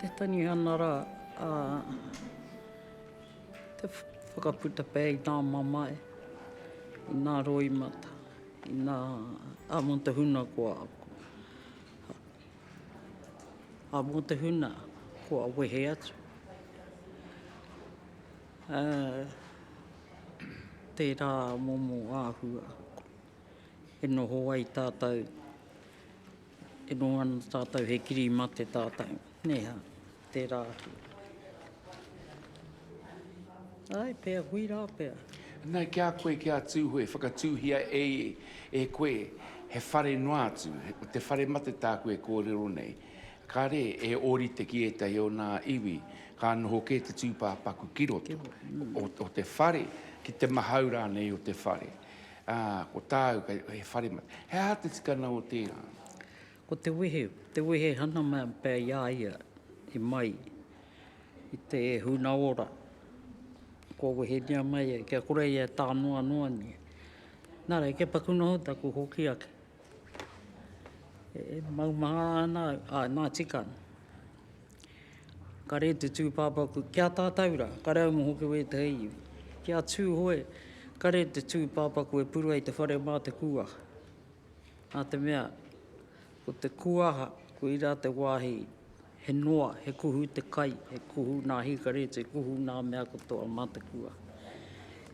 Te tangi ana rā a te whakaputa pea i nā mamae, i nā roimata, i nā āmotohunakoa aku. A mo te huna kua wehe atu. A tera momo ahua e noho ai tatou, e noho ana tatou he kiri mate tatou, neha. Tērā atu. Ae pea, hui rā pea. Nei ki a koe, ki a Tūhoe, whakatūhia e i e koe he whare noa atu, ko te whare mate tāku e kōrero nei. Kāre e ōrite ki ētahi o nā iwi, ka noho kē te tūpāpaku ki roto o te whare, ki te mahau rānei o te whare. Ā, ko tāu, he whare mate. He aha te tikanga o tērā? Ko te wehe, te wehe hana mea pea i a ia i mai i te huna ora, kua wehenia mai ai, kia kore ia e tā noa noa nei. Nā reira, kia paku noho taku hoki ake. E maumahara ana au, ā, nā tika ana. Ka rere te tūpāpaku ki a tātou rā, ka rere au mō hoki wētahi iwi. Ki a Tūhoe, ka rere te tūpāpaku e puru ai te whare mā te kūaha. Nā te mea, ko te kuaha, koirā te wāhi he noa, he kuhu te kai, he kuhu nā hīkaretu, he kuhu nā mea katoa mā te kuaha.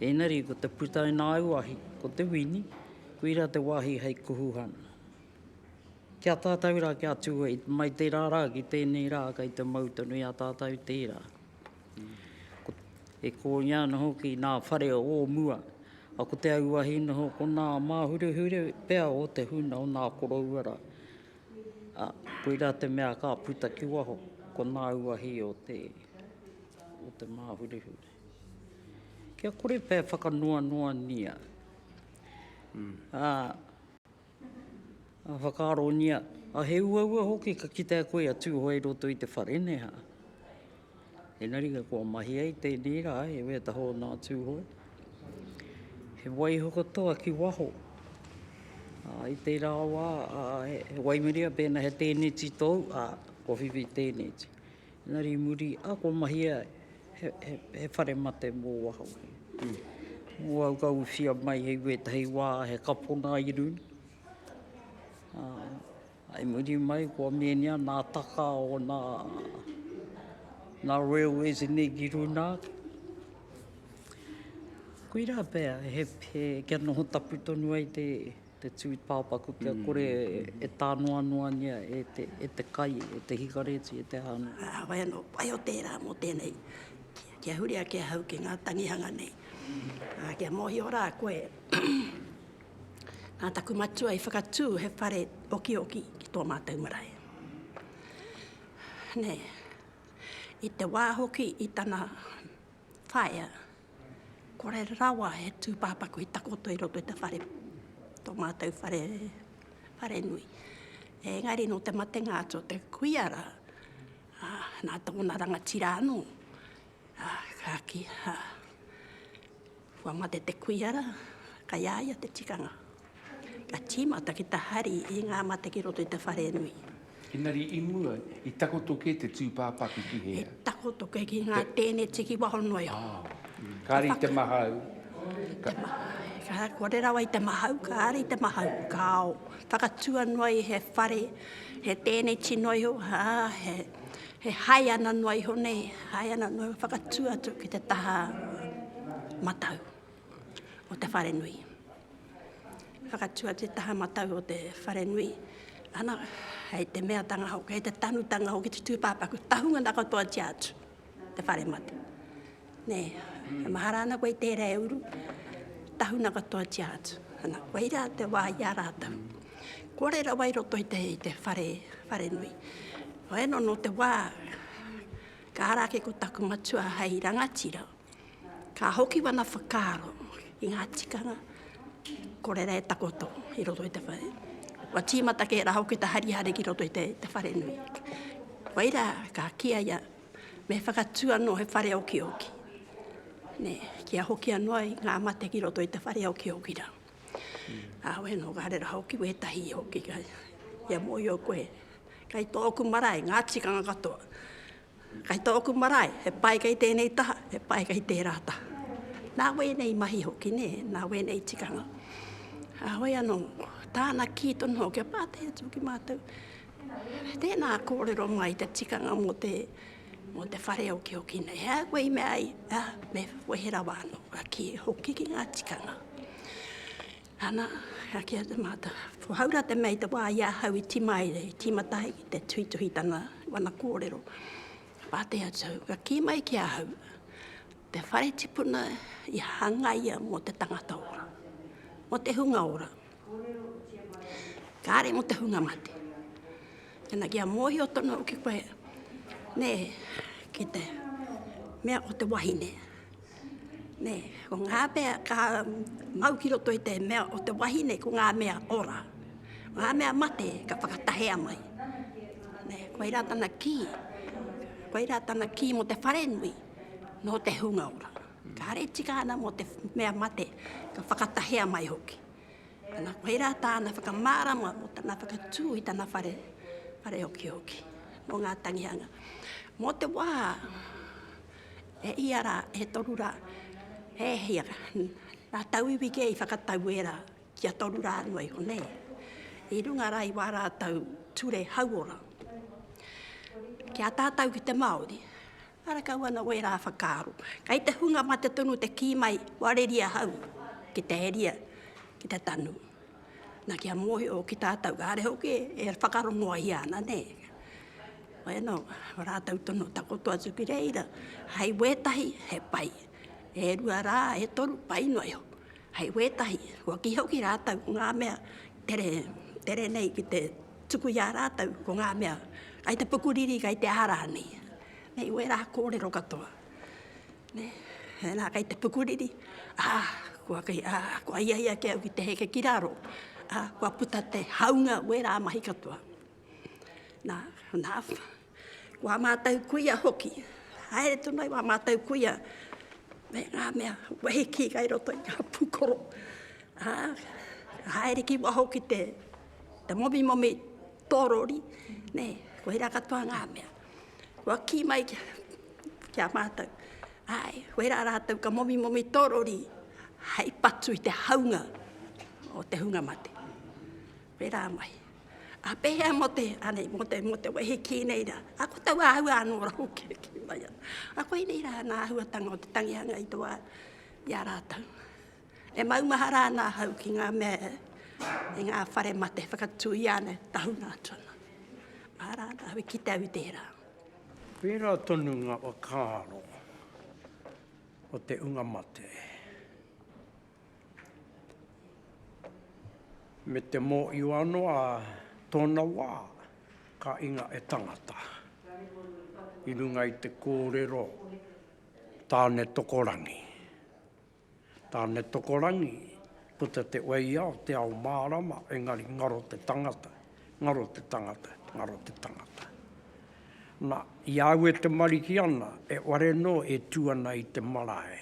Ēngari, ko te puta i nā auahi, ko te wini, koirā te wāhi hei kuhuhana. Ki a tātou rā, ki a Tūhoe, mai tērā rā ki tēnei rā, kei te mau tonu i a tātou tērā. E kōingia ana hoki nā whare o mua, a ko te auahi noho ko nā māhurehure pea o te huna o nā koroua rā. A, koirā te mea ka puta ki waho, ko nā uahi o te, o te māhurehure. Kia kore pea e whakanoanoania. Ā. Ka whakaarongia, a he uaua hoki ka kitea koe a Tūhoe i roto i te whare, nē hā? Engari ka kua mahi ai tēnei rā, heoi e taho ana a Tūhoe. He waiho katoa ki waho. Ā, i tērā wā, ā, he waimarie pēnā he tēneti tōu, ā, kua whiwhi tēneti. Engari i muri a ko Mahia he whare mate mo waho. Mo au ka uwhia mai hei wetahi wa he kapona i runa. I muri mai ko Menia na taka o na na railways ni ki runa. Koira pea he kia noho tapu tonu ai te Te tū tāpaku kia kore e tānoanoangia e te kai, e te hikareti, e te hāngai. Ā, wai anō, pai o tērā mō tēnei, kia huri ake ahau ki ngā tangihanga nei. Ā, kia mōhio rā koe, nā taku matua i whakatū he whare okioki ki tō mātou marae. Nē, i te wā hoki i tana Whaea, kore rawa he tūpāpaku i takoto i roto i te whare, tō mātou whare, whare nui. Engari nō te matenga atu o te kuia rā, ā, nā tōna rangatira anō, ā, ka kī, ā, kua mate te kuia rā, kai a ia te tikanga. Ka tīmata ki te hari i ngā mate ki roto i te wharenui. Engari i mua, i takoto kē te tūpāpaku ki hea? I takoto kē ki ngā tēneti ki waho noa iho. Oh. Kāre i te mahau. Ka... Te mahau. Kore rawa i te mahau, kāre i te mahau. Kāo. Whakatua noa i he whare, he tēneti noa iho, hā, he, he hai ana noa iho nei, hai ana noa iho, whakatua atu ki te taha matau. o te wharenui. Whakatu atu te taha matau o te wharenui, ana, hei te meatanga hoki, hei te tanutanga hoki te tūpāpaku, tahunga na katoa tia atu, te whare mate. Nē, e mahara ana koe i tērā e uru, tahuna katoa tia atu. Ana, koe rā te wā i a rātou. Kore rawa i roto i te, i te whare, whare nui. Hoi no, no te wā, ka ara ake ko taku matua hei rangatira, Ka hoki wana whakaaro i ngā tikanga ko reira e takoto i roto i te whare. Wa tīmata kē rā hoki te harihari ki roto i te, te whare nui. Waira ka kia ia me whakatū anō he whare okioki. Ne, kia hoki anō ai ngā mate ki roto i te whare okioki rā. Mm. Ā, wē nō, ka rera hoki wētahi hoki kai, ia mō i o koe. Kai tōku marae, ngā tikanga katoa. Kei tōku marae, he pai kei tēnei taha, he pai kei tērā taha. Nā wēnei mahi hoki, nē, nā wēnei tikanga. Ā, hoi anō, tāna kī tonu hoki, kia pātai atu ki mātou, tēnā kōrero mai te tikanga mō te, mō te whare okihoki nei, he aha koe i mea ai, ā, me wehe rawa anō, ka kī hoki ki ngā tikanga. Ana, ka kīa te mātā, ko Haura te mea i te wā i a hau i timaere, i tīmata ai ki te tuhituhitanga wana kōrero. Ka pātai atu au, ka kī mai ki a hau, te whare tipuna i hangaia mō te tangata ora, mō te hunga ora, kāre mō te hunga mate. Tēnā, kia mōhio tonu au ki koe, nē, ki te mea o te wahine. Ko ngā mea ka mau ki roto i te mea o te wahine, ko ngā mea ora. Ngā mea mate ka whakatahea mai. Koirā tana kī, koirā tana kī mō te wharenui, nō te hunga ora. Kāre e tika ana mō te mea mate, ka whakatahea mai hoki. Ana, koirā tāna whakamārama mō tana whakatū i tana whare, whare okihoki, mō ngā tangihanga. Mō te wā, E ia rā, e toru rā, e hia rā, nā tauiwi kē i whakatau e rā, kia toru rā noa iho nei, i runga rā i wā rātou ture hauora. Ki a tātou ki te Māori, ara kau ana wērā whakaaro. Kei te hunga mate tonu te kī mai, kua reri ahau ki te heria, ki te tanu. Na kia mohio ki tatou kare hoki e whakarongoa ia ana ne. Koe no, ratou tono takoto atu ki reira, hai wetahi he pai, e rua ra, e toru pai no iho. Hai wetahi, kua kiho ki ratou ko nga mea tere, tere nei ki te tuku ia ratou ko nga mea kai te pukuriri, kai te ara nei. Nei wera korero katoa. Nē, nā, kei te pukuriri, ā, kua kei, ā, kua ia ia ake au ki te heke ki raro, ā, kua puta te haunga o ērā mahi katoa. Nā, nā, ko ā mātou kuia hoki, haere tonu ai wā mātou kuia, me ngā mea wehi ki kai roto i ngā pūkoro, ā, haere ki waho ki te, te momimomi tōrori, nē, koirā katoa ngā mea. Kua kī mai ki a mātou, āe, wērā rātou ka momimomi tō rori hei patu i te haunga o te hunga mate. Wērā mai. A pēhea mō te, anei, mō te, mō te wehi kī nei rā, a ko tau āhua anō rā hoki e kī mai ana. A koinei rā nā āhuatanga o te tangihanga i te wā i a rātou. E maumahara ana ahau ki ngā mea e ngā whare mate whakatū i ana tahuna atu ana. Mahara ana ahau i kite au i tērā. Pērā tonu ngā whakaaro o te unga mate me te mōhio anō ā tōna wā ka inga e tangata i runga i te kōrero Tāne Tokorangi. Tānetokorangi, puta te waiao, te ao mārama, engari ngaro te tangata, ngaro te tangata, ngaro te tangata. Na, i a au e tamariki ana, e ware nō e tū ana i te marae,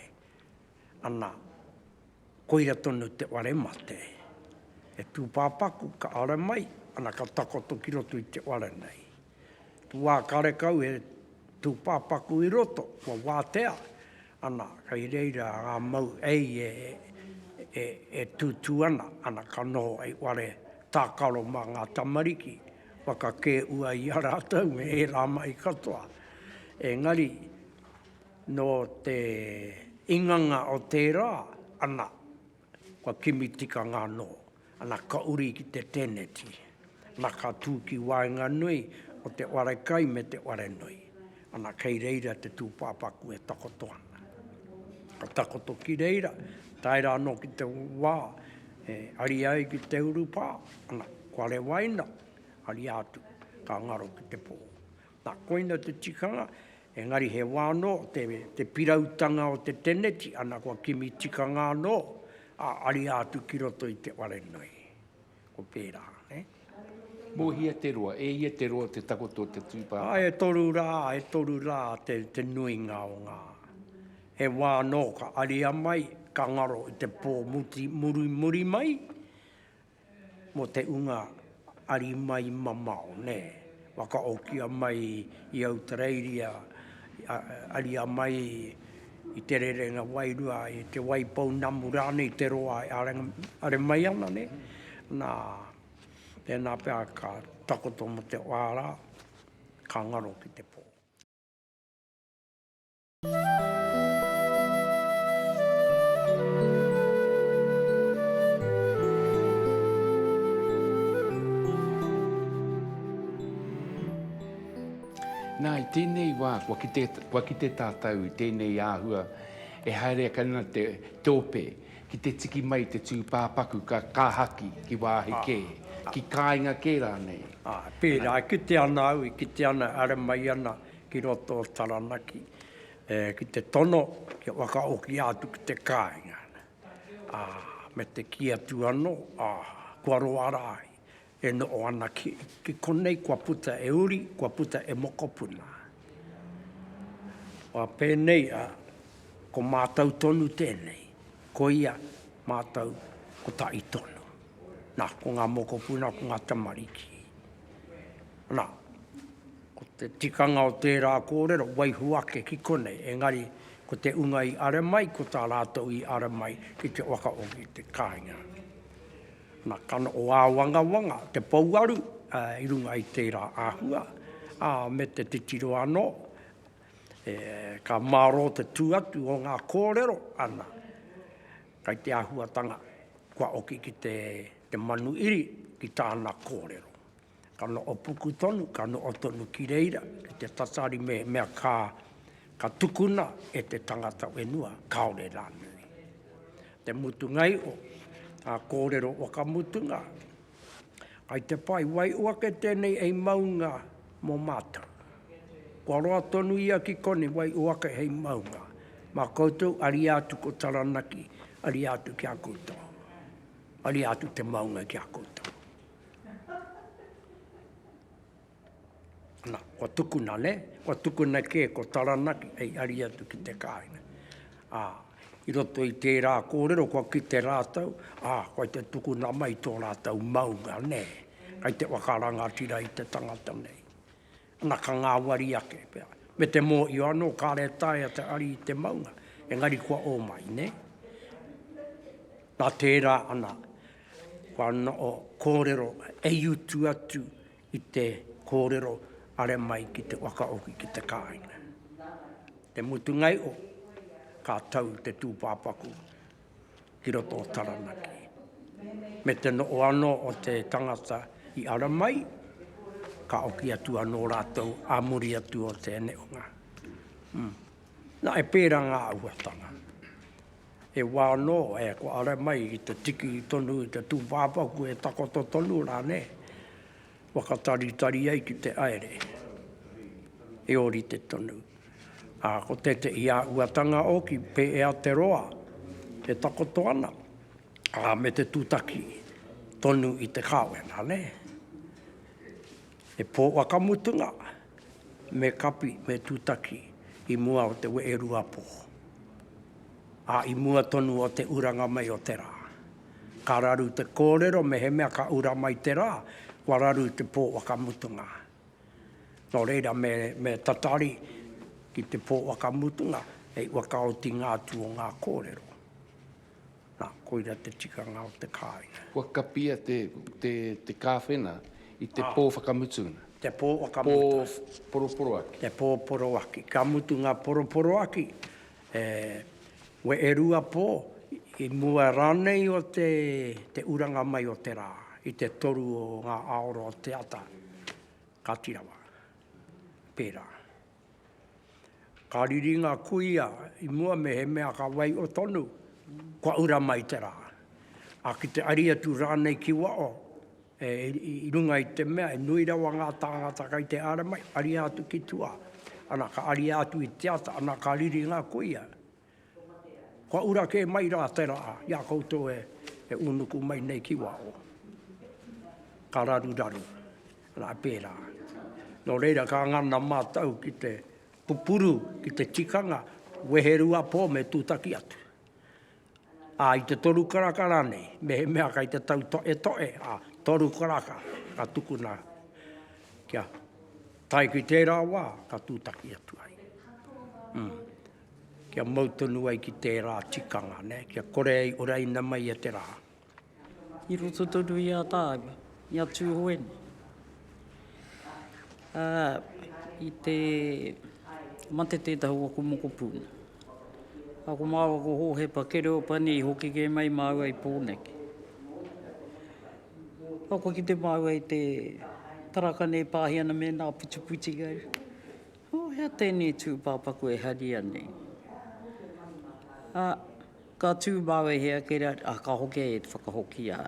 ana, koira tonu te ware mate. E tūpāpaku, ka ara mai, ana, ka takoto ki roto i te ware nei. Tū ā karekau e tūpāpaku i roto, kua wātea, Ana, kei reira ngā mau ei e tūtū ana, ana ka noho hei whare tākaro mā ngā tamariki, whakakē ua i a rātou me ērā mai katoa. Engari, nō te inganga o tērā, ana, Kua kimi tikanga anō, ana ka uri ki te tēneti, ana ka tū ki waenganui o te ware kai me te ware nui, ana kei reira te tūpāpaku e takoto ana. Ka takoto ki reira, tae rā anō ki te wā e ariā ai ki te urupā, ana, kua rewaina, ariā atu, ka ngaro ki te pō. Na, koina te tikanga, engari he wa no te, te pirautanga o te teneti, ana kua kimi tikanga ano, a, aria atu ki roto i te ware nei. Ko pera, ne. Mo hia te roa? E hia te roa te takoto o te tu papa? Ai, e toru ra, e toru ra te, te nuinga o nga, he wa no ka aria mai, ka ngaro i te po muti, muri, muri mai, Mo te unga ari mai mamao ne. Wakaokia mai i Autareiria aria mai i te rerenga wairua i te waipou namu ranei i te roa are mai ana ne. Na tena pea ka takoto mo te oara ka ngaro ki te po. Nā, i tēnei wā, kua kite, kua kite tātou i tēnei āhua e haere ake ana te, te ope ki te tiki mai te tūpāpaku ka, ka haki ki wāhi kē, ki kāinga kē rānei. Ā, pērā, e kite ana au, e kite ana, e haere mai ana ki roto o Taranaki, ki te tono kia whakaokia atu ki te kāinga, ā, me te kī atu anō, ā, kua roa rā ai, e noho ana ki, ki konei kua puta e uri, kua puta e mokopuna. Ā, pēnei, ā, ko mātou tonu tēnei, ko ia, mātou, ko taʻi tonu. Nā, ko ngā mokopuna, ko ngā tamariki. Nā. Ko te tikanga o tērā kōrero, waiho ake ki konei, engari ko te unga i are mai, ko tā rātou i ara mai ki te waka o ki te kāinga. Na, ka noho āwangawanga te pouaru i runga i tērā āhua, ā, me te titiro anō, e, ka mārō te tū atu o ngā kōrero, ana, kai te āhuatanga kua oki ki te, te manuiri ki tāna kōrero. Ka noho puku tonu, ka noho tonu ki reira, ki te tatari mehemea ka, ka tukuna e te tangata whenua, kāore rānei. Te mutunga iho, ngā kōrero whakamutunga, kai te whai waiho ake tēnei hei maunga mō mātou. Kua roa tonu ia ki konei, waiho ake hei maunga. Mā koutou, ariā atu ko Taranaki, ariā atu ki a koutou. Ariā atu te maunga ki a koutou. Na, kua tukuna, ne, kua tukuna ke ko Taranaki hei ari atu ki te kāinga. A, i roto i tērā kōrero kua kite rātou, a, koi te tukuna mai tō rātou maunga, ne, kai te whakarangatira i te tangata nei. Ana ka ngāwari ake, pea. Me te mōhio anō, kāre e taea te hari i te maunga, engari kua ō mai, nē? Nā tērā ana, kua noho kōrero e utu atu i te kōrero are mai ki te whakahoki ki te kāinga. Te mutungai o, ka tau te tūpāpaku ki roto o Taranaki, me te noho anō o te tangata i ara mai, ka oki atu anō rātou ā muri atu o te neonga. Mm. Nā, e pērā ngā āhuatanga. He wā anō, e, ko ara mai i te tiki tonu i te tūpāpaku e takoto tonu rānei. Whakataritari ai ki te aere, he orite tonu. A ko tētehi āhuatanga oki pēea te roa e takoto ana, a me te tutaki tonu i te kāwena, ne? He pō wakamutunga, me kapi, me tutaki i mua o te weeruapō, a i mua tonu o te uranga mai o te rā. Ka raru te kōrero mehemea ka ura mai te rā, kua raru te pō whakamutunga. Nō reira me, me tatari ki te pō whakamutunga, hei whakaotinga atu o ngā kōrero. Nā, koira te tikanga o te kāinga. Kua kapia te, te, te kāwhena i te pō whakamutunga. Te pō whakamutunga. Pō poroporoaki. Te pō poroaki. Ka mutu ngā poroporoaki, E we e rua po, i mua ranei o te te uranga mai o te ra, i te toru o nga aora o te ata, ka ti rawa. Pera. Ka riri nga kuia i mua mehemea ka wai o tonu, kua ura mai te ra. A ki te ari atu ranei ki wao, E, i runga i te mea, e nui rawa ngā tāngata kai te āra mai, ariā atu ki tua. Ana, ka ariā atu i te ata, ana, ka riri ngā kuia. Kua ura kē mai rā te rā i a koutou e, e unuku mai nei ki waho. Ka raruraru. Ana, pērā. Nō reira, ka ngana mātou ki te pupuru, ki te tikanga, wehe rua pō me tūtaki atu. Ā, i te toru karaka rānei, mehemea kei te tau toʻetoʻe, ā, toru karaka, ka tukuna kia tae ki tērā wā ka tūtaki atu ai. Ū, kia mau tonu ai ki tērā tikanga, nē, kia kore ai oraina mai e te rā. i roto tonu i a tāua, i a Tūhoeni. Ā, i te mate tētahi o aku mokopuna, a ko māua ko Hōhepa Kereopani i hoki kē mai māua i Pōneke. Ā, kua kite māua i te tarakane e pāhi ana me nā putiputikau. Ō, hea tēnei tūpāpaku e haria nei? Ā. Ka tū māu e hea kei reira, ā, ka hoki ai e te whakahokia.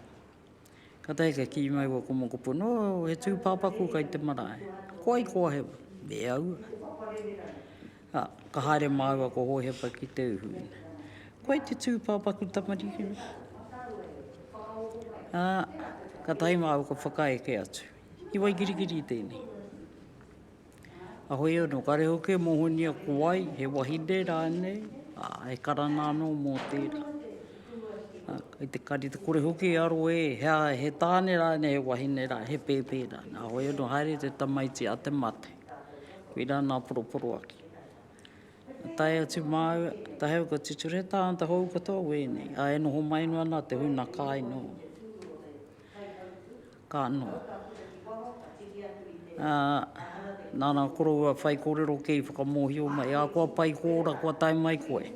Ka taea kia kī mai ua komokopo, nō, he tūpāpaku kai te marae. Ko ai kō Hewa? Me aua. Ā, ka haere māua ko Hōhepa ki te uhu. Ko ai te tūpāpaku tamariki? Ā, ka tae māu ka whakaeke atu. I Waikirikiri tēnei. Ahoi ano, kare hoki e mohonia ko wai, he wahine ranei, e karana ano mo tera. Kei te kari te kore hoki e aro e, he tane ranei, he wahine ranei, he pepe ranei. Ahoi ano, haere te tamaiti a te mate. Koi ra nga poroporoaki. Tae atu mau, tae au ka tuture tangata hou katoa wenei, a e noho mai noa na te huna kai no. Ka noho. Ā, nāna koroua whai kōrero kē i whakamōhio mai, ā, kua pai kō ora kua tae mai koe.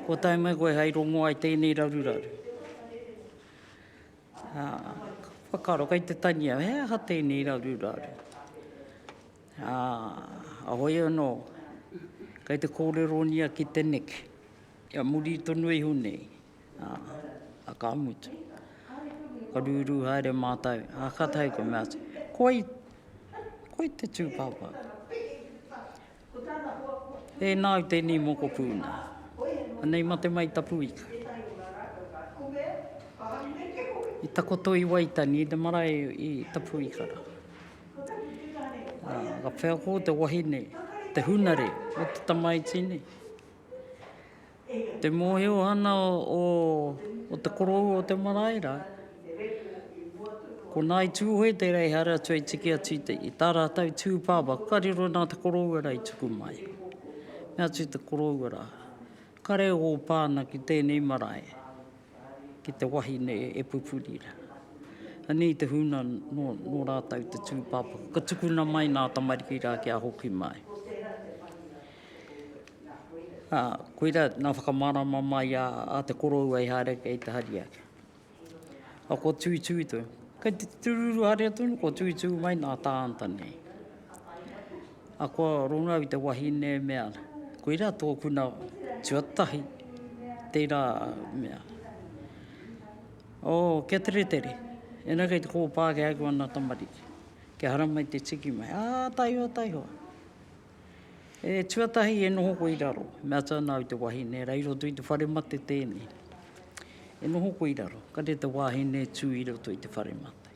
Kua tae mai koe hai rongoā i tēnei raruraru. Ā, whakaaro kei te tania, he aha tēnei raruraru? Ā, a hoi anō, kei te kōreronia ki te neke, kia muri tonu iho nei. a ka mutu. Ka rūrū haere mātou, a ka tae ka mea, koi, koi te tū pāpā. Tēnā au tēnei mokopū nei. Anei mate mai ta puika. I takoto i Waitani, i te marae i ta puika. Ka wheako te wahine, te hunare, o te tamaiti nei. Te mōhio ana o te korou o te marae rā, ko Ngāi Tūhoe tērā i haere atu hei tiki atu i tā rātou tū pāpā, ka riro nā te koroua rā i tuku mai. Mea atu te koroua rā, kare ō pā ana ki tēnei marae, ki te wahine e pupuri rā. Anei i te huna nō rātou te tū pāpā, ka tukuna mai nā tamariki rā kia hoki mai. Ā, koirā nā whakamārama mai a, a te koroua i haere kei te hari ake. Ā, kua tūtū tonu. Kei te tūrūrū haria tonu, kua tūtū mai nā tāngata nei. Ā, kua rongo au i te wahine e mea ana, koirā tōkuna tuatahi, tērā mea. Oh, kia teretere, ēnā kei te kōpā ki aku ana tamariki, kia haramai te tiki mai. Ā, taihoa, taihoa. E tuatahi e noho koe i raro. Mea ta nau te wahine, rei roto i te whare mate tēnei. E noho koe i raro, ka re te wahine tu i roto i te whare mate.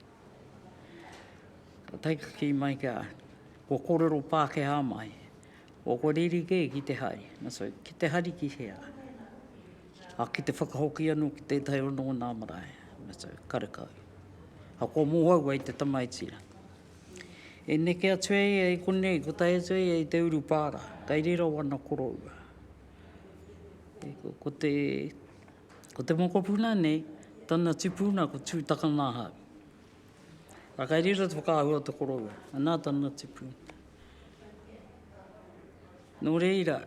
Ka taikaki mai ka, ko korero Pākehā mai. O ko riri ke ki te hari. Na so, ki te hari ki hea? A ki te whakahoki anu ki tētahi o nō nā marae. Na so, karekau. A ko mōhau ai te tamaiti. E neke atu ai ia i konei, ko tae atu ai ia i te urupara, kai riro wana koroua. Ko te, ko te mokopuna nei, tana tupuna ko Tutakanaha. A kai riro te whakaahua o te koroua, ana tana tupuna. No reira,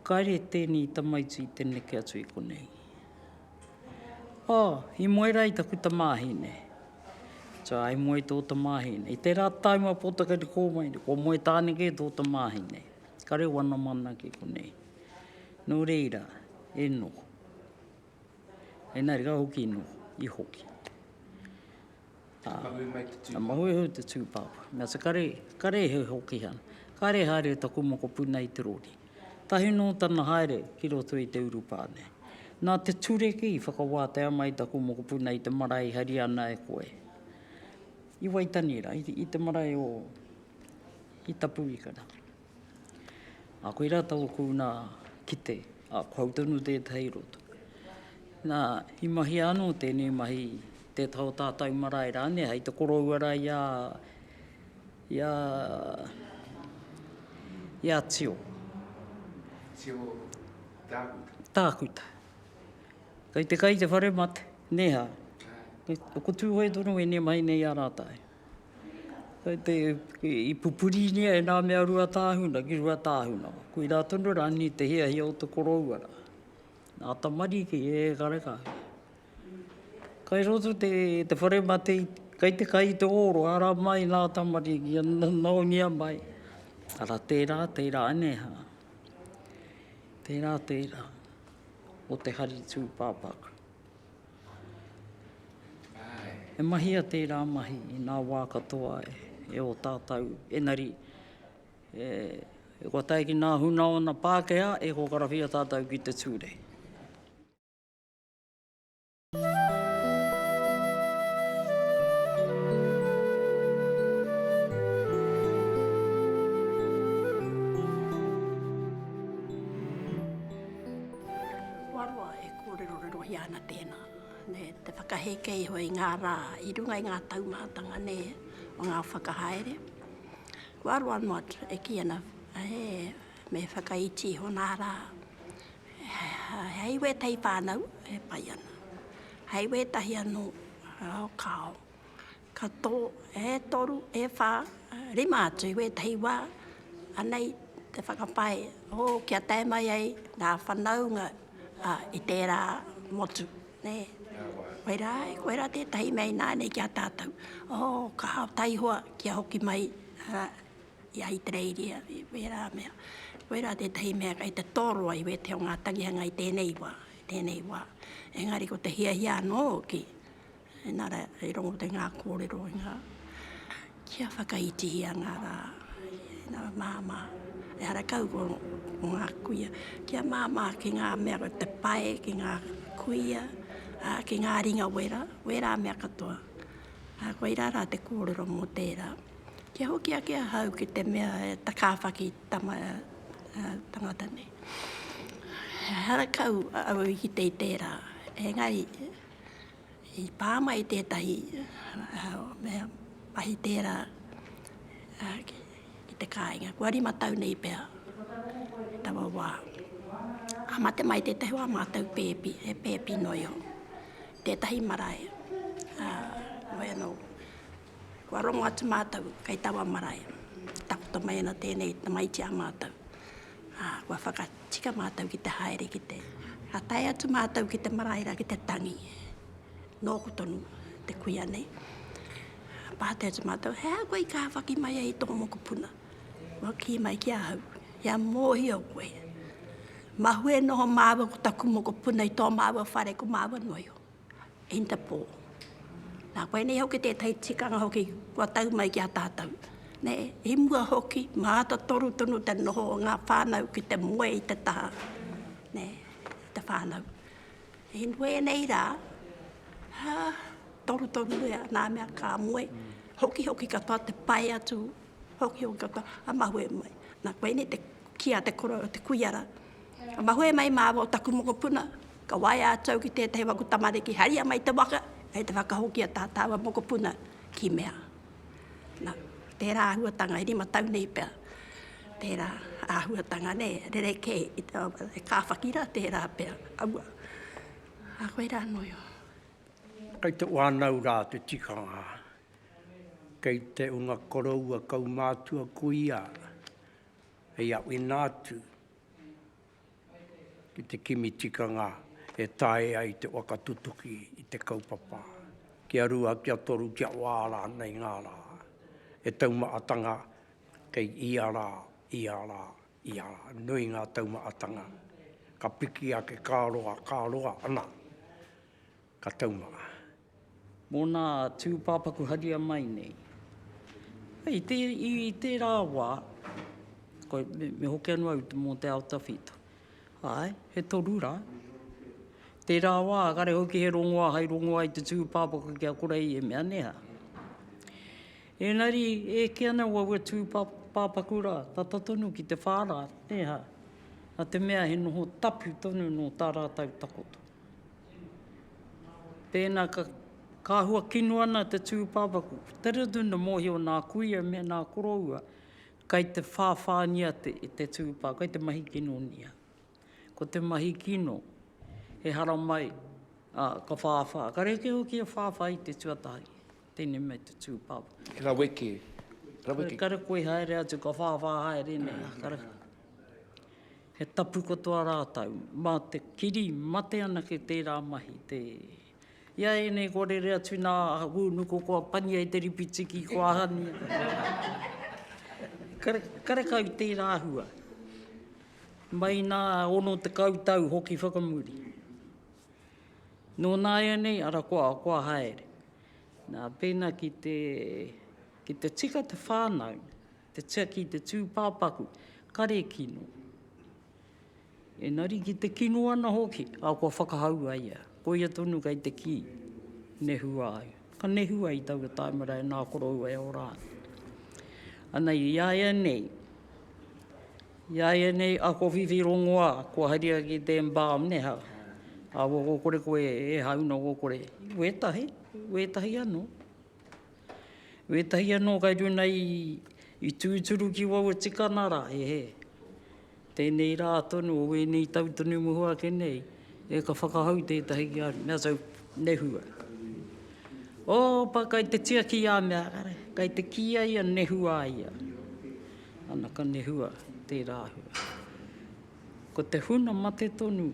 kaire teni tamaiti te neke atu i konei. Oh, i moe rā i taku tamāhine. So, i moe i tō tamāhine. I tērā taim a Pōtaka i kō mai, kua moe tāne kē tō tamāhine. Ka reo ana mana ki konei. Nō reira, e noho. Engari ka hoki noho, i hoki. Ka mahue mai te tūpāpā. Ka mahue mai te tūpāpā. Mea te kare, kare he hoki ana. Kare haere taku mokopuna i te rori. Tahi nō tana haere ki roto i te urupā nei. Nā te tureki i whakawātea mai taku mokopuna i te marae i hari ana e koe. I Waitanira, i te marae o, i Tapuikara. A koe rā tau kou nā kite, a ko au tonu tētahi roto. Nā, i mahi anō tēnei mahi te taho tātau marae rānei hei te koroua rā i a, i a, i a Tio. Tio Tākuta. Tākuta. Kei te kai te whare mate, nē hā? Āe. Ko Tūhoe tonu ēnei mahi nei a rātau. I pupurinia e nā mea rua tāhuna ki rua tāhuna. Koirā tonu rānei te hiahia o te koroua rā. Nā tamariki e kareka ana. Kai roto te whare mate, kai te kai i te ōro, ara mai nā tamariki, naongia mai. Ara tērā, tērā anehā. Tērā, tērā. Ko te hari tūpāpaku. E mahia tērā mahi i ngā wā katoa e ō tātou, engari e kua tae ki ngā hunaona Pākehā e kokarawhia tātou ki te ture. Kōrerorerohia ana tēnā, nē, te whakaheke iho i ngā rā i runga i ngā taumātanga, nē, o ngā whakahaere. Kua roa noa atu e kī ana, he, me whakaiti iho nā rā, hei wētahi whānau e pai ana, hei wētahi anō, kāo. Ka tō, e toru, e whā, rima atu i wētahi wā, anei te whakapae, hō, kia tae mai ai ngā whanaunga a, i tērā motu, nē. Koe rā, koe rā tētahi mea ināianei ki a tātou. Hō, ka taihoa kia hoki mai a, i Ahitereiria, i wērā mea. Koe rā tētahi mea kei te toroa i wētahi o ngā tangihanga i tēnei wā, i tēnei wā. Engari ko te hiahia anō hoki, Enara i rongo te nga korero i nga kia whakaitihia nga ra ina mama ehara kau ko nga kuia kia mama ki nga mea ko te pae ki nga kuia a ki nga ringa wera wera mea katoa a koi ra ra te korero mo tera kia hoki ake ahau ki te mea e takawhaki tama tangata nei ehara kau au i kite i tera engari. I pā mai tētahi mea mahi tērā ki te kāinga, kua rima tau nei pea taua wā. Ka mate mai tētahi o ā mātou pēpi, he pēpi noi o tētahi marae, ā, wai anō, kua rongo atu mātou kei taua marae, takoto mai ana tēnei tamaiti a mātou. Ā, kua whakatika mātou ki te haere ki te. Ka tae atu mātou ki te marae rā, ki te tangi. Nōku tonu te kuia nei. Ā, pātai atu mātou, He aha koe i kāwhaki mai ai i tō mokopuna? Kua kī mai ki ahau, Kia mōhio koe, mahue noho māua ko taku mokopuna i tō māua whare, ko māua noio. Interpol. Nā koinei hoki tētahi tikanga hoki kua tau mai ki a tātou. Nē, i mua hoki, mātotoru tonu te noho o ngā whānau ki te moe i te taha, nē, i te whānau. I wēnei rā, hā, torutoru ia, nā mea ka moe, hokihoki katoa te pae atu, hokihoki katoa a mahue mai. Nā koinei te kī a te koroua, te kuia rā, Ka mahue mai māua o taku mokopuna, ka waea atu au ki tētahi o aku tamariki, haria mai te waka, kei te whakahokia tā tāua mokopuna ki mea. Na, tērā āhuatanga, e rima tau nei pea, tērā āhuatanga, nē, rerekē, e kāwhaki rā, tērā pea, aua. Ā, koirā nō ia. Kei te whānau rā te tikanga, kei te unga koroua kaumātua ko ia hei awina atu, ki te kimi tikanga e taea ai te waka tutuki i te kaupapa, kia rua, kia toru, kia wā rānei ngā rā, he taumahatanga kei ia rā, ia rā, ia rā. Nui ngā taumahatanga, ka piki ake, ka roa, ka roa, ana. Ka taumanga. Mō nā tūpāpaku haria mai nei. Hei, i tērā wā, ko, me, me hoki anō au mō te ao tawhito. Āe, he toru rā. Tērā wā, kare hoki he rongoā, hai rongoā i te tūpāpaku ki a Korei e mea, nē hā? Ēngari, e eke ana wā ua tūpāpaku pāpaku rā, tata tonu ki te whā rā, nē hā? Nā te mea he noho tapu tonu nō tā rātau takoto. Tēnā, ka, ka hua kino ana te tūpāpaku. Ko te rutu na mōhio nā kuia me nā koroua kei te whāwhāngia te, te tūpā, kei te mahi kinonia. Ko te mahi kino, he haramai, ā, ka whāwhā. Ka rēke hoki e whāwhā i te tuatahi. Tēnei mei te tū pau. He raweke. Raweke. Kare koe haere atu, ka whāwhā haere nei. Kare. He tapu katoa rātau. Mā te kiri mate ana ki tērā mahi. Te... Ia ēnei kua rere atu nā Wūnuku, kua pania i te ripitiki, kua ahania. Kare, kare kau tērā hua. Mai nā ono te kau tau hoki whakamuri. Nō nāianei, ara kua, kua haere. Nā, pēnā ki te, ki te tika te whānau, te tiaki i te tūpāpaku, kare kino. Engari ki te kino ana hoki, a, kua whakahau a ia. Koia tonu kei te kī, nehua ai. Ka nehua i taua tāmara e nā koroua e ora ana. Anei, i a ia nei, I a ianei ako whiwhi rongoa kua haria ki te embalm e ha, a wo go kore koe e ha uno go kore. We tahi, we tahi ano. We tahi ano kai runa i, i tūturu ki wau e tikana ra, he he. Tēnei rā tonu o wēnei tau tonu muho ake nei, e ka whakahau tētahi ki a runa, so nehua. Opa, kai te tiaki i a mea, kai te kīia ia nehua ia. Ana ka nehua tērā hua. Ko te huna mate tonu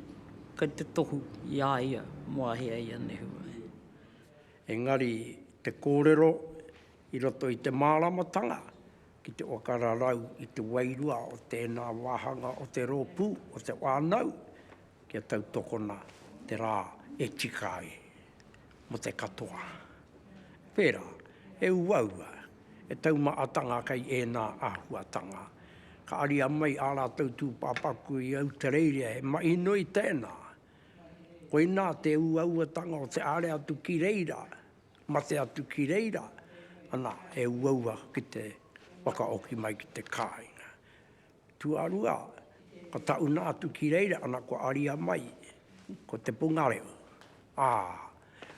kei te tohu i a ia mō a hea ia nehua e. Engari te kōrero i roto i te māramatanga ki te waka rarau i te wairua o tēnā wāhanga o te rōpū o te whānau kia tautokona te rā e tika ai. Mō te katoa. Whērā, he uaua, he taumahatanga kei ēnā āhuatanga. Ka aria mai ā rātou tūpāpaku i Autareiria, he mahi nui tēnā. Koinā te uauatanga o te haere atu ki reira, mate atu ki reira, ana, he uaua ki te whakahoki mai ki te kāinga. Tuarua, ka tauna atu ki reira ana kua aria mai ko te pungareo, ā,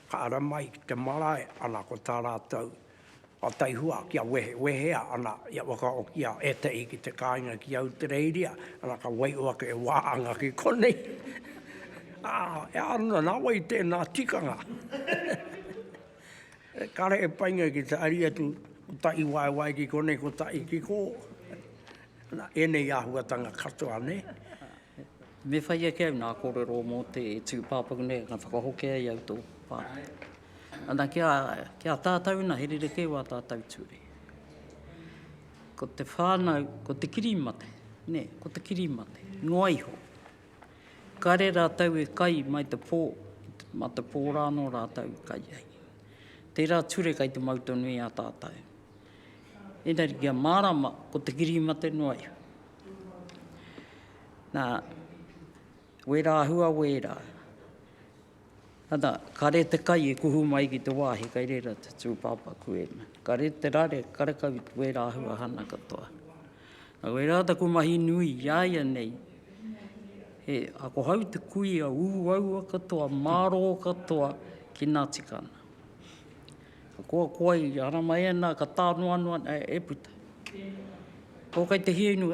ka ara mai ki te marae ana ko tā rātou a Taihua kia wehewehea ana ia whakaokia ētahi ki te kāinga ki Autireiria, ana ka waio ake e waanga ki konei. Ā, e āna nā wai tēnā tikanga. Kare e painga ki te ari atu kotahi waewae ki konei kotahi ki ko. Na, enei ahuatanga katoa ne. Me whai ake au nga korero mo te tupapaku nei ka whakahoki ai au to whanau. Ana ki a, ki a tatou na he rerekē wa tatou ture. Ko te whanau, ko te kirimate, ne, ko te kirimate, noa iho. Kare rātou e kai mai te pō, mā te pō rā anō rātou i kai ai. Tērā ture kai te mau tonu i a tātou. Engari kia mārama, ko te kiri mate noa iho. Nā, wērā hua wērā. Ana, kare te kai e kuhu mai ki te wāhi kai reira te tūpāpā kuena. Kare te rare karekau i wērā āhua hana katoa. Nā wērā taku mahi nui i a ia nei, he akohau te kuia ū aua katoa, mārō katoa ki nā tika ana. Ka koakoa i ara mai ana, ka tānoanoa ana e puta. Ko kai te hiainu,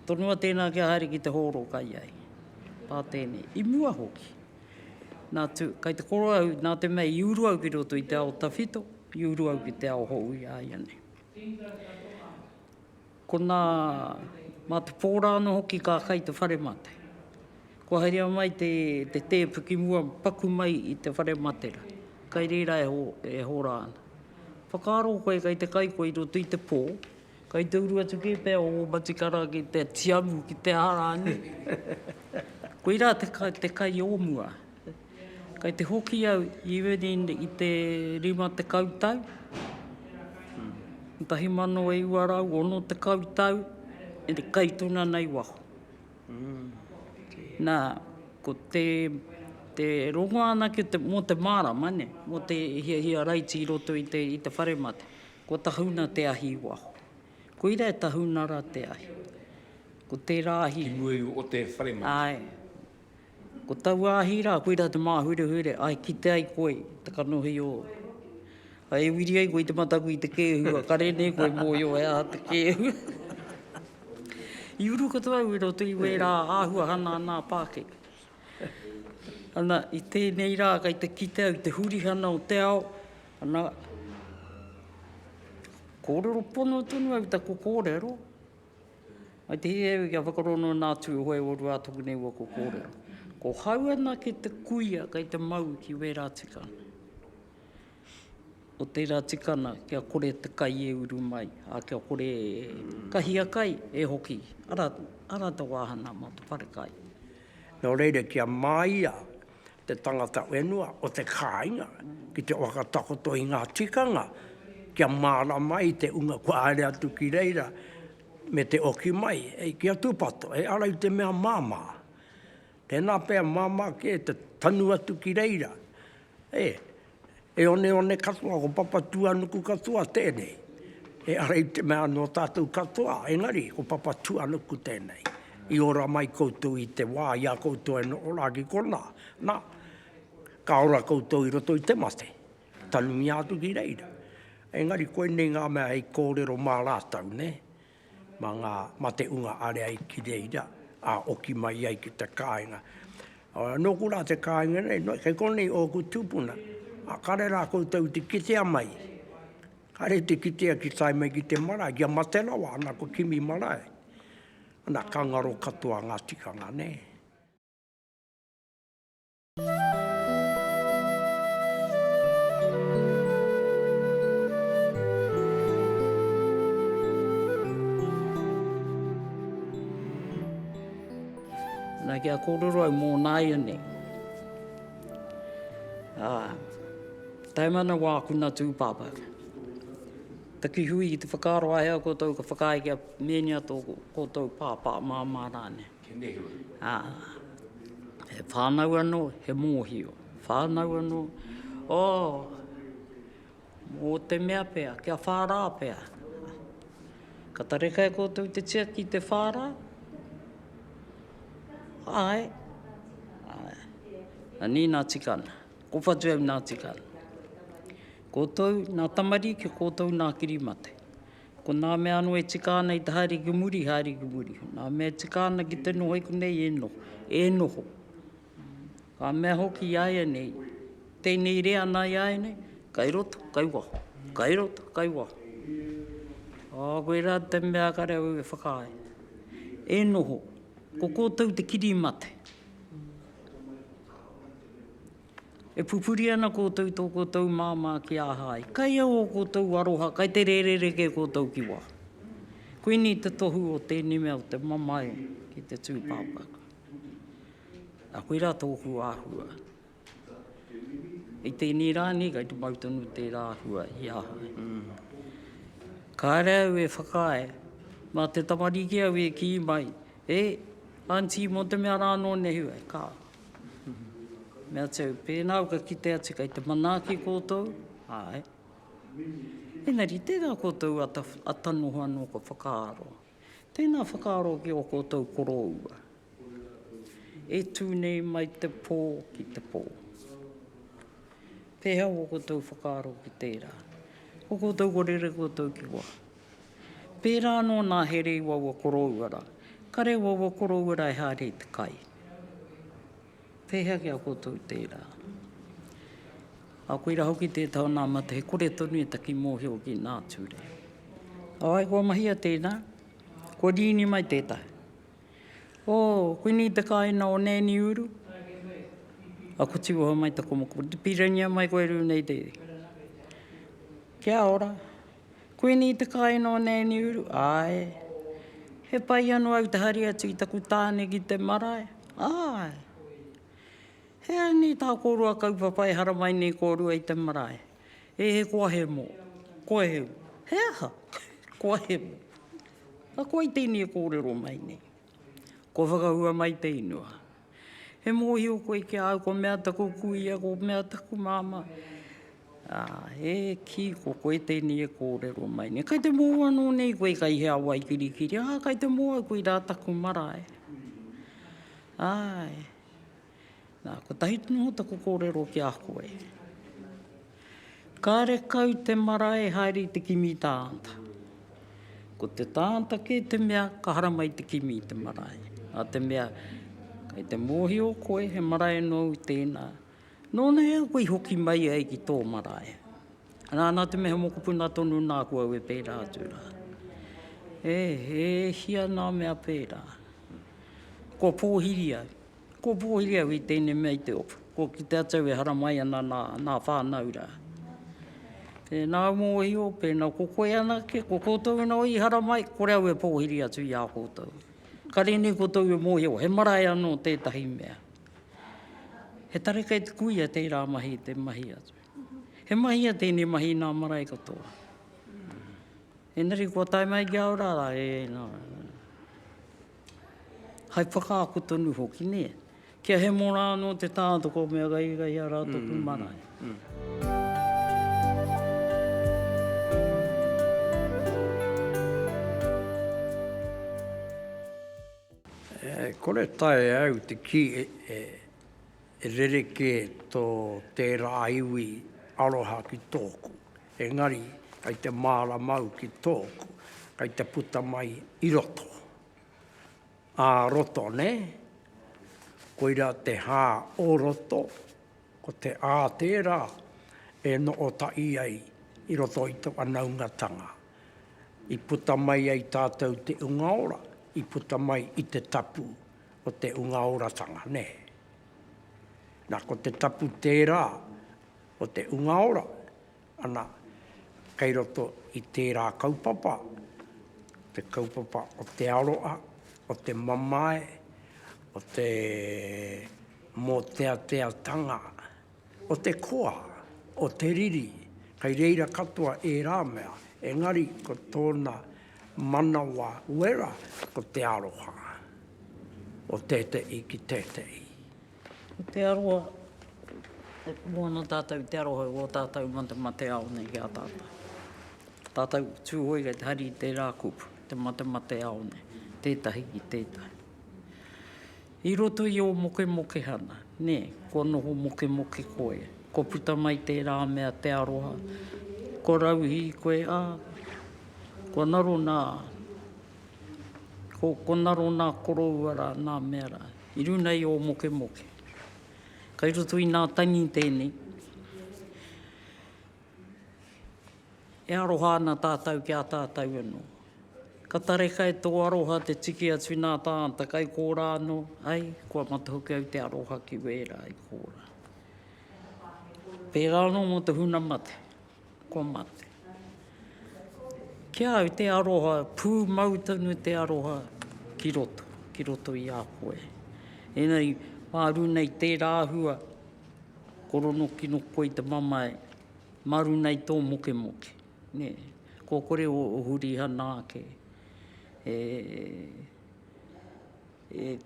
tonua tēnā kia haere ki te hōro kai ai. Pā tēnei, i mua hoki. Kei te koro au, nā te mea i uru au ki roto i te ao tawhito, i uru au ki te ao hou i a ia nei. Ko nā, mā te pō rā anō hoki ka kai te whare mate. Kua haerea mai te tēpu ki mua paku mai i te whare mate rā. Kai reira e hora ana. Whakaaro koe kei te kai koe i roto i te pō, Kai te uru atu ki te o Matikara ki te tiamu ki te arani. Koi ra te kai o mua. Kai te hoki au even i te rima tekau tau, 1960 tau, e te kai tona nei waho. Na, ko te, te rongo anake mo te marama ne, mo te hiahia raiti i roto i te whare mate. Kua tahuna te ahi i waho. Koira e tahuna ra te ahi. Ko tera ahi. Te nui o te whare mai. Ae. Ko taua ahi ra, koira te mahurehure, ae kite ai koe i te kanohi o. Ae e wiri ai koe i te mataku i te kehu, a kare nei koe moio e a te kehu. I uru katoa au i roto i wera ahuahana ana a pakeke. Ana, i tenei ra kai te kite au i te hurihana o te ao, Ana, kōrero pono tonu au i taku kōrero, mai te hē au i a Whakarongo nā Tūhoe o Rua tōku nei waka kōrero. Ko hau anake te kuia kei te mau ki wērā tikanga. Ko tērā tikanga kia kore te kai e uru mai, a kia kore e kahia kai e hoki, ara, ara te wāhanga mō te wharekai. Nō reira kia māia te tangata whenua o te kāinga ki te whakatakoto i ngā tikanga kia mārama ai te unga kua haere atu ki reira me te oki mai hei ki a tūpato, he ara i te mea māmā. Tēnā pea māmā kē te tanu atu ki reira, e. He oneone katoa, ko Papatūānuku katoa tēnei. Ehara i te mea nō tātou katoa, engari ko Papatūānuku tēnei. I ora mai koutou i te wā i a koutou e noho rā ki konā, nā, ka ora koutou i roto i te mate, tanumia atu ki reira. Engari koinei ngā mea hei kōrero mā rātou, nē? Mā ngā mate unga area i kireira, ā, oki mai ai ki te kāinga. Ora, nōku rā te kāinga nei, no, kei konei ōku tūpuna, ā, kare rā koutou te kitea mai. Kare te kitea ki tae mai ki te marae, kia mate rawa ana ko kimi marae. Ana, ka ngaro katoa ngā tikanga, nē. Ana kia kororo au mo naianei. Ah, taimana wa kuna tupapa. Takihui ki te whakaro ai a kotou ka whakaae kia menia to kotou papa mama rane. Ā, he whānau anō, he mōhio, whānau anō, ō, mō te mea pea, kia whārā pea. Ka tareka e koutou te tiaki i te whārā? Āe. Āe. Anī nā tika ana. Ko whatu au nā tika ana. Koutou nā tamariki, koutou nā kirimate. Ko nā mea anō e tika ana i te haere ki muri, haere ki muri. Nā mea e tika ana ki te noho i konei, e noho, e noho. Ka mea hoki i a ia nei, tēnei re ana i a ia nei, kai roto, kai waho, kai roto, kai waho. Ā, koe rā te mea kare au e whakaae. E noho, ko kōtou te kirimate. E pupuri ana koutou tō koutou māmā ki aha ai? Kai au o koutou aroha, kai te rērere kē koutou ki wā. Koinei te tohu o tēnei mea o te mamae ki te tūpāpaku. A koirā tōku āhua. I tēnei rā nei kai te mau tonu tērā āhua i aha ai. Kāre au e whakaae, mā te tamariki au e kī mai, e, Aunty, mō te mea rā nō nehu ai, ka. Me āta au, pēnā au ka kite atu kei te manaaki koutou, āe. Engari, tērā koutou a ata noho anō ka whakaaro. Tēnā whakaaro ki ō koutou koroua. E tū nei mai te pō ki te pō. Pēhea ō koutou whakaaro ki tērā? Ko koutou ko rere koutou ki wā. Pērā anō nā He Rei Waua Korouara. Ka rei waua korouara e haere i te kai. Pēhea ki a koutou tērā? A koira hoki tē tau nā mate he kore tonu e taki mōhio ki nā ture. Ae, kua mahia tēnā. Kua rīni mai tētahi. Oh, koinei te kāina o Nēni Uru? A kua tiwaha mai te komoko. Pirangia mai koe rūnei te. Kia ora. Kuini te kai nō nēni uru? Āe. He pai anō au te hari atu i taku tāne ki te marae? Āe. He aha nei tā kōrua kaupapa e haramai nei kōrua i te marae? E he koa hemo. Koa hemo. He aha? Koa hemo. Ako ai tēnei e kōrero mai nei. Kua whakahua mai te inua. He mōhio koe ki a au ko mea taku kuia, ko mea taku māmā, ā, e kī, ko koe tēnei e kōrero mai nei. Kei te mōhio anō nei koe kei hea wai kirikiri, ā, kei te mōhio au koirā taku marae. Āe. Nā, kotahi noa taku kōrero ki a koe. Kāre kau te marae haere i te kimi tānta. Ko te tānta kē te mea ka haramai te kimi i te marae. Nā te mea, kei te mōhio koe he marae nōu tēnā, nōna hea koe i hoki mai ai ki tō marae. Nā, nā te mea he mokopuna tonu nāku au e pērā atu rā. E, e hia nā mea pērā. Kua pōhiri au. Kua pū hoki au i tēnei mea i te ope, kua kite atu au e haramai ana nā, nā whānau rā. Tēnā au mōhio, pēnā ko koe anake, ko koutou anō i haramai, kore au e pōhiri atu i a koutou. Kare nei koutou e mōhio, he marae anō tētahi mea. He tare kei te kuia tērā mahi te mahi atu. He mahia tēnei mahi nā marae katoa. Engari kua tae mai ki a au rā, e, nā, hai whakaako tonu hoki, nē. Kia hemo rā anō te tātoko mea gaigai a rātou ki marae. Mm, mm, mm. Kore tae au te kī e rerekē tō tērā iwi aroha ki tōku. Engari, kei te māramau ki tōku, kei te puta mai i roto. Ā roto, nē? Koirā te hā o roto, ko te ā tērā e noʻo taʻi ai i roto i tō whanaungatanga. I puta mai ai tātou te unga ora, i puta mai i te tapu o te unga oratanga, nē? Na, ko te tapu tērā o te Unga Ora, ana, kei roto i tērā kaupapa, te kaupapa o te aroa, o te mamae, o te mōteateatanga, o te koa, o te riri, kei reira katoa ērā mea, engari ko tōna manawa wera ko te aroha, o tēteʻi ki tēteʻi. Ko te aroha, e pū ana tātou i te aroha o ō tātou matemate ao nei ki a tātou. Tātou Tūhoe kei te hari i tērā kupu, te matemate ao nei, tētahi ki tētahi. I roto i ō mokemokehana, nē, kua noho mokemoke koe, kua puta mai tērā mea te aroha, kua rauhī koe, ā, kua naro nā, kua naro nā koroua rā, nā mea rā. I runa i ō mokemoke. Kai roto i nā tangi tēnei. E aroha ana tātou ki a tātou anō. Ka tareka e tō aroha te tiki atu nā tāta kai kōrā anō, ai, kua matahoki au te aroha ki wērā i kōrā. Pērā anō mō te huna mate. Kua mate. Ki a au te aroha, pūmau tonu te aroha ki roto, ki roto i a koe. Engari, māru nei tērā hua, korono ki no koe i te mamae, maru nei tō mokemoke. Nē, kua kore o Hurihana ake e, e,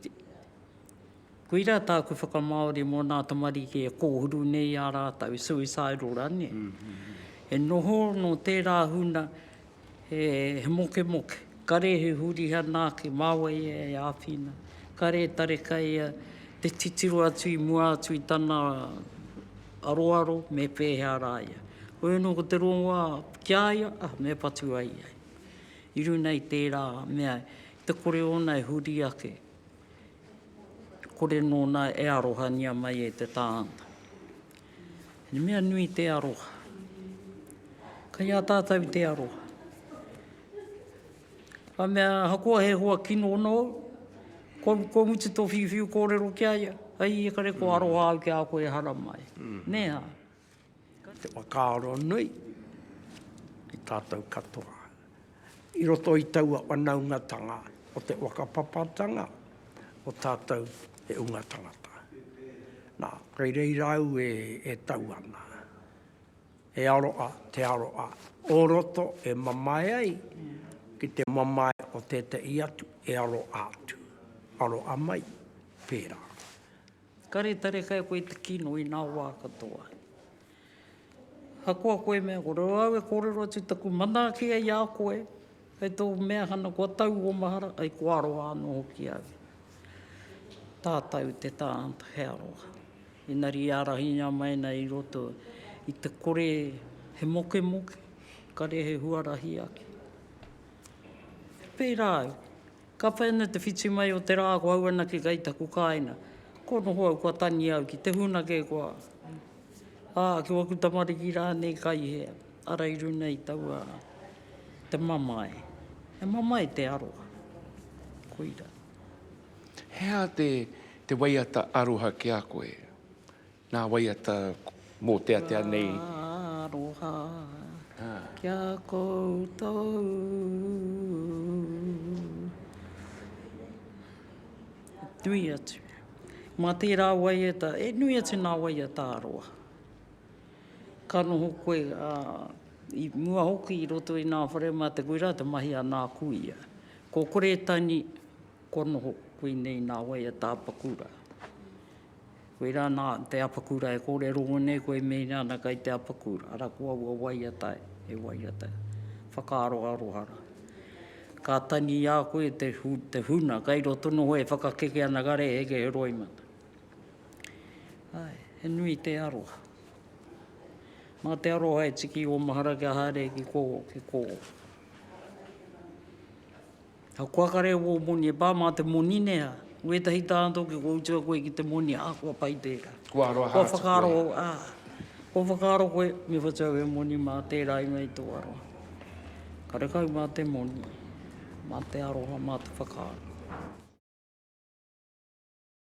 Koira tāku whakamāori mō nā tamariki e kōhuru nei ā rātou suicidal rane. He noho nō tērā huna he, he mokemoke. Kare he hurihana ake, māua ia e āwhina. Kare e tareka ia te titiro atu i mua atu i tana aroaro me pēhea rā ia. Hoi anō ko te rongoā ki a ia, ah, me patu ai ia. I runga i tērā mea, te kore ōna e huri ake, kore nōna e arohangia mai e te tāngata. He mea nui te aroha. Kai a tātou te aroha. Ka mea, ahakoa he hoa kino nōu, kua, kua mutu tō whiuwhiu kōrero ki a ia, ai e kare kua aroha au ki a koe e haramai. Nē ā? Te whakaaro nui ki tātou katoa. I roto i taua whanaungatanga o te whakapapatanga o tātou he unga tangata. Nā, kei reira au e, e tau ana. He aroa, te aroa o roto e mamae ai ki te mamae o tētehi atu e aroa atu. Aroa mai, pērā. Kare tarekai koe te kino i nā wā katoa. Hakoa koe mea kore au e kōrero atu taku manaaki ai a koe, kai tō mea hana kua tau ō mahara, ai kua roa anō hoki au. Tātau te tā, he aroha. Engari i ārahingia mai nei i roto i te kore he mokemoke, kare he huarahi ake. Pērā au. Ka whai ana te whiti mai o te rā ko au anake kei taku kāina. Ko noho au kua tangi au ki te huna kē kua ā, ki waku tamariki rānei kai hea, ara i runa i taua te mamae. He mamae te aroha. Koira. He aha te waiata aroha ki a koe? Nā waiata mōteatea nei. Ka aroha ki a koutou. Nui atu. Mā tērā waiata, e nui atu nā waiata aroa. Ka noho koe i mua hoki i roto i nā whare mā te koirā te mahi a nā kuia. Kua kore tani, kua noho koinei nā waiata apakura. Koe rā nā te apakura e kōrero nei koe meinga ana kai te apakura, ara ko aua waiata he waiata whakaaro aroha rā. Ka tangi i a koe te te huna kai roto noho e whakakeke ana kare heke he roimata. Ae, he nui te aroha. Mā te aroha e tiki o mahara kia haere ki kō, ki kō. Ka koakare wō moni e pā mā te moni nei ā, wētahi tāna tō kia kua utua koe ki te moni ā, kua pai tērā. Kua aroha atu koe. Kua whakaaro, ā, kua whakaaro koe me whatu au e moni mā tērā ingoa i tō aroha. Karekau mā te moni, mā te aroha, mā te whakaaro.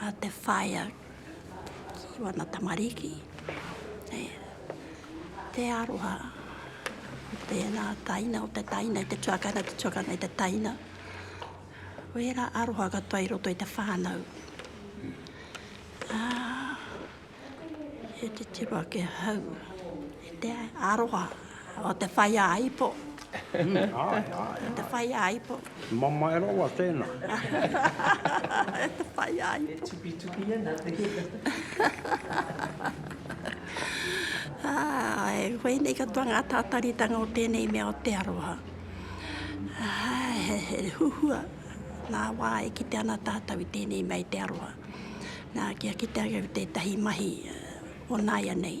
a te whaea ki wana tamariki e te aroha o tēnā taina, o te taina i te tuakana, te tuakana i te taina. Wērā aroha katoa i roto i te whānau. Ā. He titiro ake ahau i te aroha o te whai a ipo. o te whai a ipo. Mamae rawa tēnā. e te whai a ipo. E tupitupi ana te e koinei katoa ngā tātaritanga o tēnei mea o te aroha. He huhua nā wā e kite ana tātou i tēnei mea i te aroha. Nā, kia kitea au tētahi mahi o nāianei,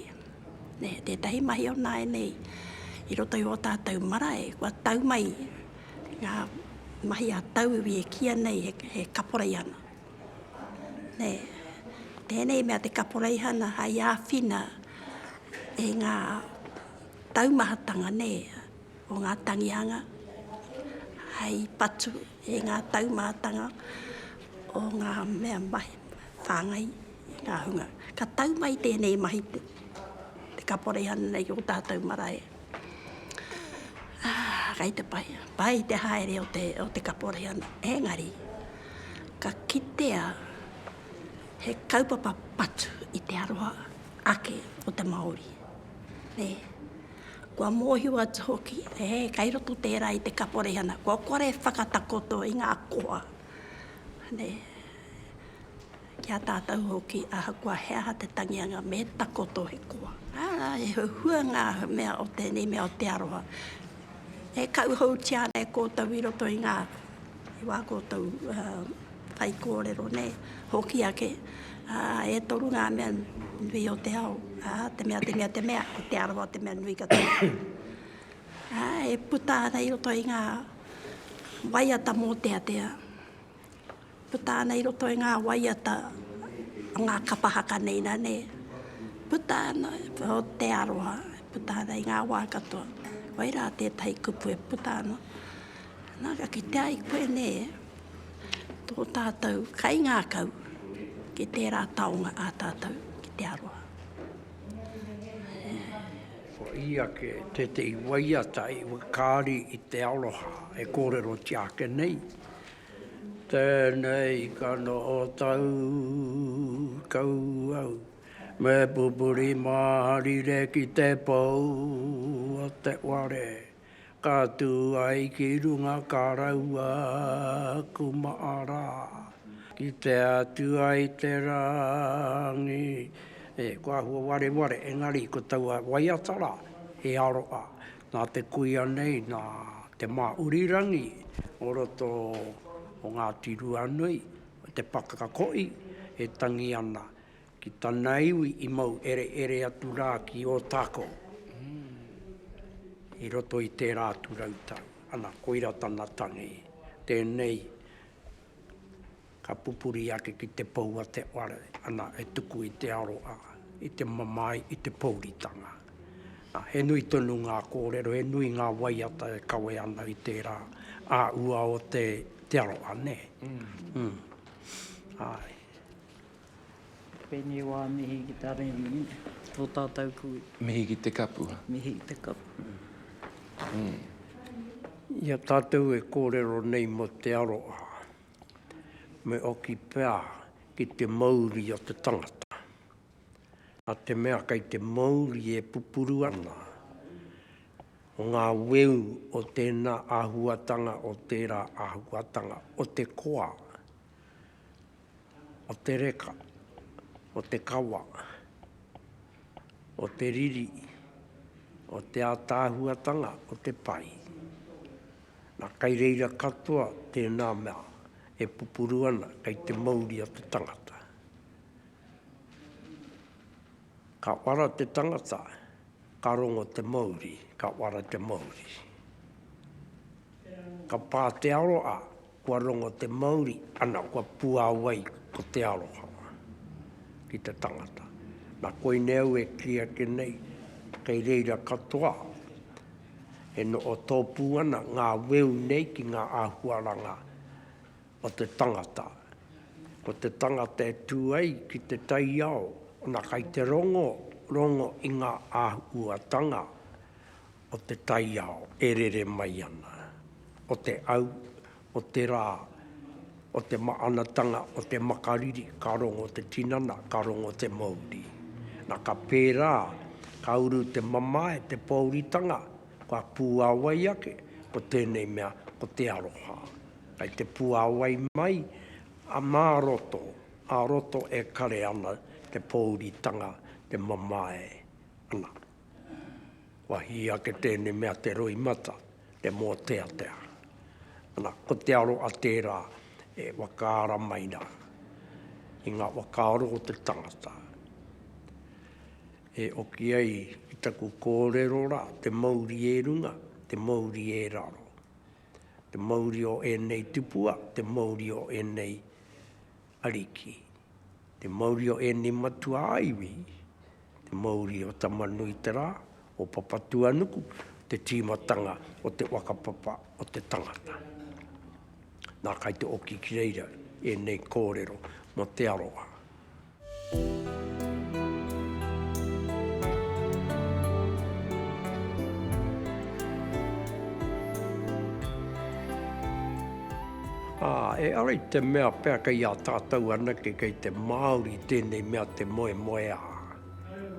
nē, tētahi mahi o nāianei i roto i ō tātou marae, kua tau mai ngā mahi a tauiwi e kīia nei he, he kaporeihana. Nē, tēnei mea te kaporeihana hai āwhina e ngā taumahatanga, nē, o ngā tangihanga hai patu, i ngā taumātanga o ngā mea mahi whāngai i ngā hunga. Ka tau mai tēnei mahi te kaporeihana nei ki o tātou marae. Kai te pai, pai te haere o te, o te kaporeihana, engari, ka kitea he kaupapa patu i te aroha ake o te Māori. Nē. Kua mōhio atu hoki, e, kei roto tērā i te kaporeihana, kua kore e whakatakoto i ngā koha, nē, ki a tātou hoki, ahakoa he aha te tangi anga, me takoto he koha. Arā, e huhua ngā mea o tēnei mea o te aroha, e kauhautia ana e koutou i roto i ngā. I wā koutou whaikōrero nei, hoki ake, ā, e toru ngā mea nui o te ao, ā, te mea, te mea, te mea, ko Te Arawa te mea nui katoa. Ā, e puta ana i roto i ngā waiata mōteatea, puta ana i roto i ngā waiata o ngā kapa haka nei nā, nē, puta ana o te aroha, puta ana i ngā wā katoa. Koirā tētahi kupu e puta ana. Nā, ka kitea ai koe nē, tō tātou kaingākau ki tērā taonga ā tātou ki te aroha. Ko ia ke tētehi waiata i whakaari i te aroha e kōrerotia ake nei. Tēnei ka noho tau kau au, me pupuri māharire ki te pou o te ware. Ka tū ai ki runga ka raua aku maʻara, kitea atu ai te rangi. E, ko ahua wareware, engari ko taua waiata rā, he aroha nā te kuia nei, nā Te Māurirangi o roto o Ngāti Ruanui, te pakaka koʻi e tangi ana Ki tana iwi i mau ereere atu rā ki Ōtākou, i roto i tērā atu rau tau. Ana, koira tana tangi. Tēnei, ka pupuri ake ki te pou a te whare, ana, e tuku i te aroha, i te mamae, i te pōuritanga. Nā, he nui tonu ngā kōrero, he nui ngā waiata e kawe ana i tērā āhua o te aroha, nē? Āe. Pēnei wā, mihi ki te Arimi, tō tātou kui. Mihi ki te kapua. Mihi ki te kapua. I a tātou e kōrero nei mō te aroha, me oki pea ki te mauri o te tangata. Nā te mea kei te mauri e pupuru ana, o ngā weu o tēnā āhuatanga, o tērā āhuatanga, o te koa, o te reka, o te kawa, o te riri, o te ātaahuatanga o te pai. Na, kai reira katoa tēnā mea e pupuru ana kei te mauri a te tangata. Ka uara te tangata, ka rongo te mauri, ka uara te mauri. Ka pā te aroha, Kua rongo te mauri, ana, kua puāwai ko te aroha ki te tangata. Nā, koinei au e kī ake nei, kei reira katoa e noho tōpū ana ngā weu nei ki ngā āhuaranga o te tangata. Ko te tangata e tū ai ki te taiao, ana, kei te rongo, rongo i ngā āhuatanga. o te taiao e rere mai ana, o te au, o te rā, o te maanatanga, o te makariri, ka rongo te tinana, ka rongo te mouri. Na, ka pērā, ka uru te mamae, te pōuritanga, kua pūāwai ake, ko tēnei mea, ko te aroha. Kai te pūāwai mai, a mā roto, ā roto e kare ana te pōuritanga, te mamae, ana. Kua hī ake tēnei mea te roimata, te mōteatea. Ana, ko te aro a tērā e whakaara mai rā i ngā whakaaro o te tangata. E oki ai ki taku kōrero rā, te mauri e runga, te mauri e raro. Te mauri o ēnei tipua, te mauri o ēnei Ariki, te mauri o ēnei matua ā-iwi, te mauri o Tama-nui-te-rā, o Papatūānuku, te tīmatanga o te whakapapa o te tangata. Nā, kai te oki ki reira ēnei kōrero mō te aroha. Ā, e ara i te mea pea kei a tātou anake kei te Māori tēnei mea te moemoeā.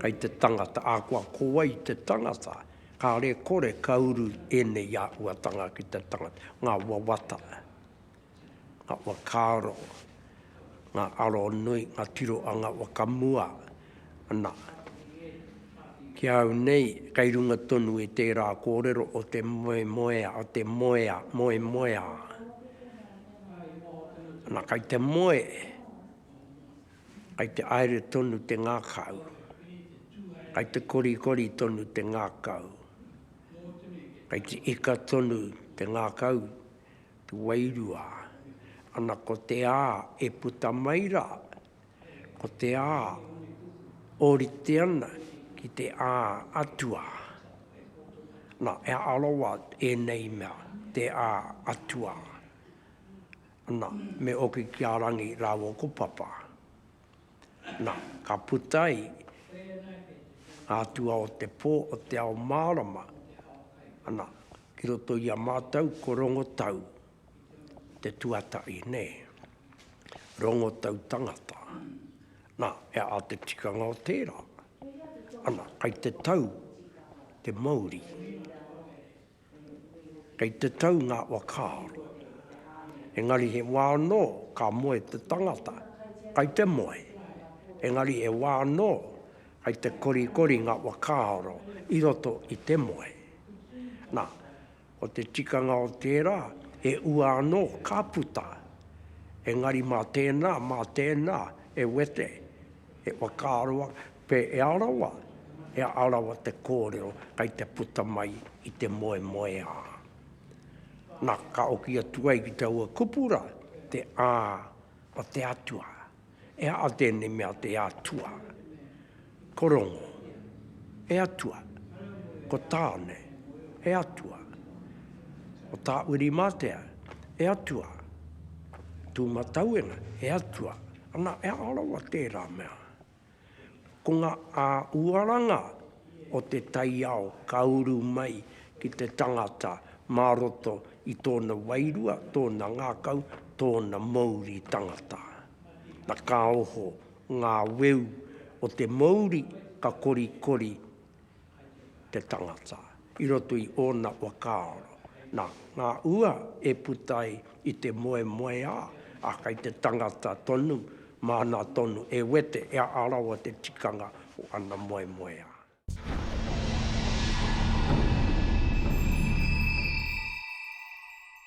Kei te tangata, ā, kua ko wai i te tangata, kāre e kore ka uru ēnei āhuatanga ki te tangata, ngā wawata, ngā whakaaro, ngā aronui, ngā tiroanga whakamua, Ana, ki a au nei, kei runga tonu i tērā kōrero o te moemoea, o te moea, moemoeā. Ana, kei te moe, kei te aere tonu te ngakau, kei te korikori tonu te ngakau, kei te ika tonu te ngakau, te wairua. Ana, ko te a e puta mai rā, Ko te ā, ōrite ana ki te ā atua. Nā, e arawa ēnei mea, te ā atua. Nā, me oki ki a Rangi rāua ko Papa. Nā, ka puta ai ngā atua o te pō o te ao mārama, nā, ki roto i a mātou ko Rongotau. te tuatahi nei, rongo tau tangata. Na, e a te tikanga o tera, ana, kai te tau te mauri, kai te tau nga wakaaro. Engari he wa no ka moe te tangata, kai te moe. Engari he wa no kai te korikori nga wakaaro i roto i te moe. Na, Ko te tikanga o tērā, he ua anō ka puta. Engari mā tēnā, mā tēnā e wete, e whakaaro ake, pē e arawa, e arawa te kōrero kei te puta mai i te moemoeā. Nā, ka oki atu ai ki taua kupura te ā o te Atua. E aha tēnei mea te Atua? Ko Rongo, he atua. Ko Tāne, he atua. Ko Tāwiri-mātea, he atua. Ko Tūmatauenga, he atua. Ana, e aha rawa tērā mea? Ko ngā uaranga o te taiao ka uru mai ki te tangata mā roto i tōna wairua, tōna ngākau, tōna mouri tangata. Na ka oho ngā weu o te mouri ka korikori te tangata i roto i ōna whakaaro. Nā ngā ua e puta ai i te moemoeā, ā, kei te tangata tonu, māna tonu e wete, e aha rawa te tikanga o ana moemoeā.